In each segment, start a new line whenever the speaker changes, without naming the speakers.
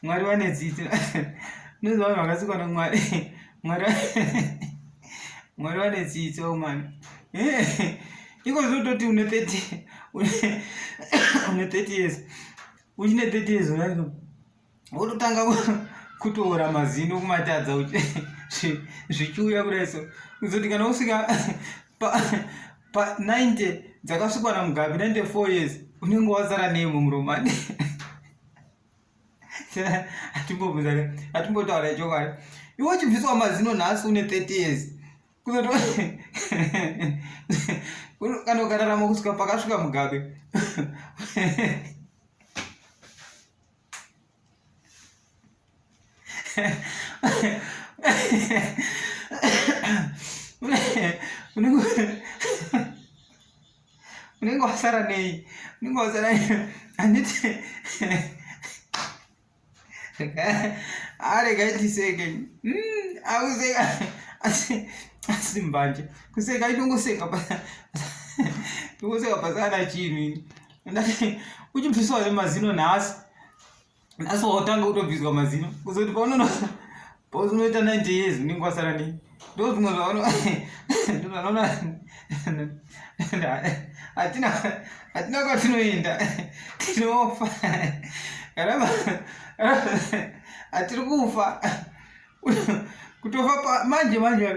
mwari vane dzidzo nonzi vanhu vakasikwa nomwari mwari mwari vane dzidzo mani iko zvinototi une 30 une 30 years uchine 30 years unaa wototanga kutoora mazino kumatadza zvichiuya kudai so kuzoti kana usvika pa90 dzakasvikwa namugabi 94 years unenge wazara nei mumuromani atimbobvunza atimbotaura chokwadi iwe uchibviswa mazino nhasi une 30 years kuzoto kana ukararama kusvika pakasvika mugabe unenge wasara nei unenge wasara handiti arega itiseke akuseka asi mbanje kuseka itongoseka tongoseka pasana chinhu ini ndati uchibviswa here mazino nhasi nhasi wautanga kutobviswa mazino kuzoti paunono paunoita 90 years unenge wasara nei ndo zvimwe zvaono ndozvanoona hatina hatina kwatinoenda tinofa kana hatiri kufa kutofa pa manje manje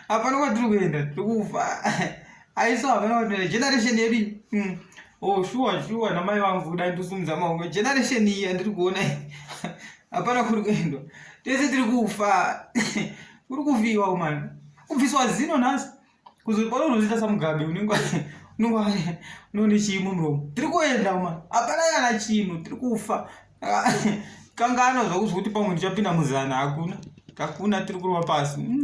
hapana kwatiri kuenda tiri kufa aiso hapana kwatiri generation yedu iyi mm. oh shuwa shuwa namai vangu kudai ndosumudza maoko generation iyi andiri kuona hapana kuri kuendwa tese tiri kufa kuri kufiwa umana kubviswa zino nhasi kuzopara unozoita samugabe unenge unenge unone chii mumuromo tiri kuenda uma hapana kana chinhu tiri kufa kangano zvakuzwa kuti pamwe ndichapinda muzana hakuna hakuna tiri kurova pasi mm.